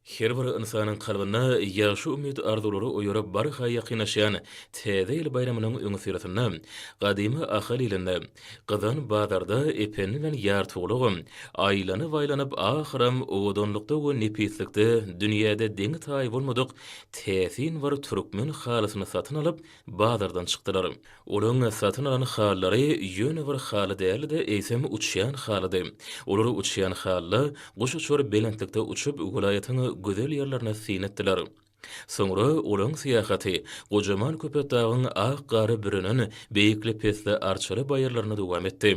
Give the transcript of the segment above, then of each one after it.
Her bir ynsanyň kalbynda ýagşy umyt-arzuwlary oýaryp barha ýakynlaşýan Täze ýyl baýramynyň öňüsyrasynda gadymy Ahal ilinde, Gyzan bazarda Ependi bilen Ýartygulagam aýlanyp-aýlanyp ahyram owadanlykda we nepislikde dünýäde deňi-taýy bolmadyk täsin bir türkmen halysyny satyn alyp bazardan çykdylar. Olaryň satyn alan halylary ýöne bir haly däldi-de, eýsem uçýan halydy. Olar uçýan halyda, guş uçar belentlikde uçup, welaýatyň gözel ýerlerini syn etdiler. Soňra olaryň syýahaty gojaman Köpetdagyň ak gary bürenen beýikli-pesli arçaly baýyrlaryna dowam etdi.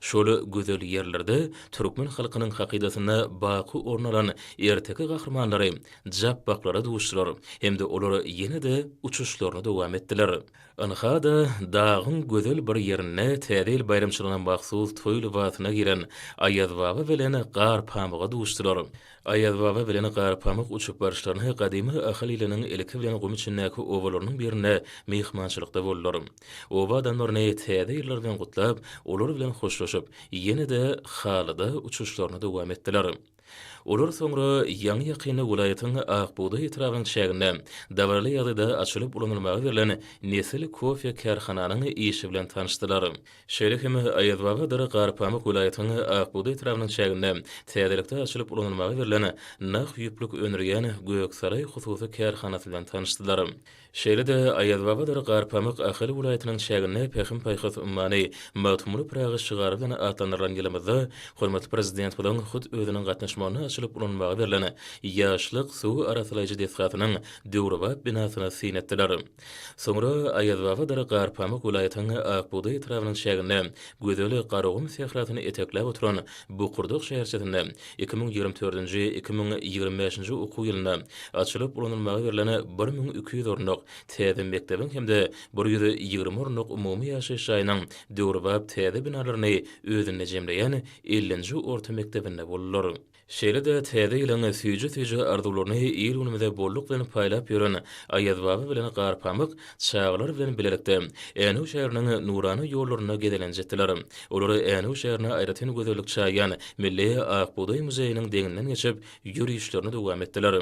Şol gözel ýerlerde türkmen halkynyň hakydasynda baky orun alan erteki gahrymanlary japbaklara duşdular hem-de olar ýene-de uçuşlaryny dowam etdiler. Ynha-da, dagyň gözel bir ýerinde Täze ýyl baýramçylygyna mahsus toý lybasyna giren Aýazbaba bilen Garpamyga duşdular. Aýazbaba bilen Garpamyk uçup baryşlaryna gadymy Ahal iliniň ilki bilen gum içindäki obalarynyň birinde myhmançylykda boldular. Oba adamlaryny Täze ýyllary bilen gutlap, olar bilen hoşlaşyp, ýene-de halyda uçuşlaryny dowam etdiler. Olar soňra ýaňy-ýakynda welaýatyň Akbugdaý etrabynyň çäginde dabaraly ýagdaýda açylyp ulanylmaga berlen Nesil kofe kärhananyň işi bilen tanyşdylar. Şeýle hem Aýazbabadyr Garpamyk welaýatyň Akbugdaý etrabynyň çäginde täzelikde açylyp ulanylmaga berlen nah ýüplük öndürýän Göksaraý hususy kärhanasy bilen tanyşdylar. Şeýle-de, Aýazbabadyr Garpamyk Ahal welaýatynyň çäginde Pähim-paýhas ummany Magtymguly Pyragy şygary bilen atlandyrylan ýylymyzda hormatly Prezidentimiziň hut özüniň gatnaşmagynda açylyp ulanmaga berlen Ýaşlyk suw arassalaýjy desgasynyň döwrebap binasyny syn etdiler. Soňra Aýazbabadyr Garpamyk welaýatyň Akbugdaý etrabynyň çäginde gözel Garagum sährasyny etekläp oturan Bukurdak şäherçesinde Iki müň ýigrimi dördünji, iki müň ýigrimi bäşinji okuw ýylynda açylyp ulanylmaga berlen bir müň iki ýüz orunlyk täze mekdebiň hem-de bir ýüz ýigrimi orunlyk umumy ýaşaýyş jaýynyň döwrebap täze binalaryny özünde jemleýän ellinji orta mekdebinde boldular. Şeýle-de täze ýylyň süýji-süýji arzuwlaryny il-günümize bolluk bilen paýlap ýören Aýazbaba bilen Garpamyk Çagalar bilen bilelikde Änew şäheriniň nurana ýollarynda gezelenç etdiler. Olar Änew şäherine aýratyn gözellik çaýýan Milli ak bugdaý muzeýiniň deňinden geçip, ýörişlerini dowam etdiler.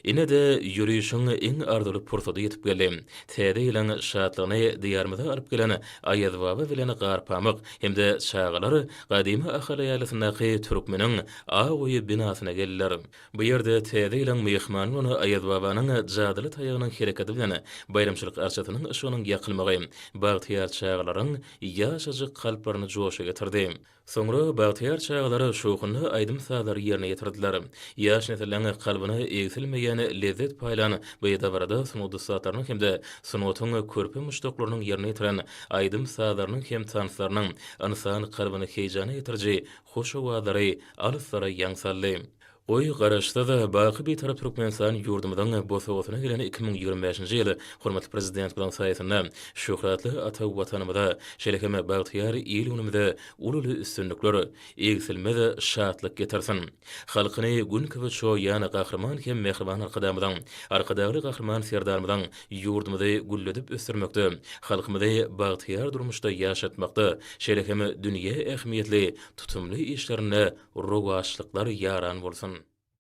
Ine-de, ýörişiň iň arzuwly pursady ýetip geldi. Täze ýylyň şatlygyny Diýarymyza alyp gelen Aýazbaba bilen Garpamyk hem-de çagalar gadymy Ahal ýaýlasyndaky Türkmeniň aw-goýy binasyna geldiler. Bu ýerde Täze ýylyň myhmany bolan Aýazbabanyň jadyly taýagynyň hereketi bilen baýramçylyk arçasynyň yşygynyň ýakylmagy bagtyýar çagalaryň ýaşajyk kalplaryny joşa getirdi. Soňra bagtyýar çagalar şowhunly aýdym-sazlary ýerine ýetirdiler. Ýaş nesliň kalbyna egsilmeýän lezzet paýlan bu dabarada sungat ussatlarynyň hem-de sungatyň körpe muşdaklarynyň ýerine ýetiren aýdym-sazlarynyň hem tanslarynyň ynsan kalbyny heýjana getiriji Hoş owazlary alyslara ýaň saldy. Goý, Garaşsyz, baky Bitarap Türkmenistan ýurdumyzyň bosagasyna gelen iki müň ýigrimi bäşinji ýyl hormatly Prezidentimiziň saýasynda şöhratly ata Watanymyza, şeýle hem bagtyýar il-günümize ululy üstünlikler, egsilmez şatlyk getirsin! Halkyny gün kibi çoýýan Gahryman hem mähriban Arkadagymyzyň, Arkadagly Gahryman Serdarymyzyň Ýurdumyzy gülledip ösdürmekde, halkymyzy bagtyýar durmuşda ýaşatmakda, şeýle hem dünýä ähmiýetli tutumly işlerinde rowaçlyklar ýaran bolsun!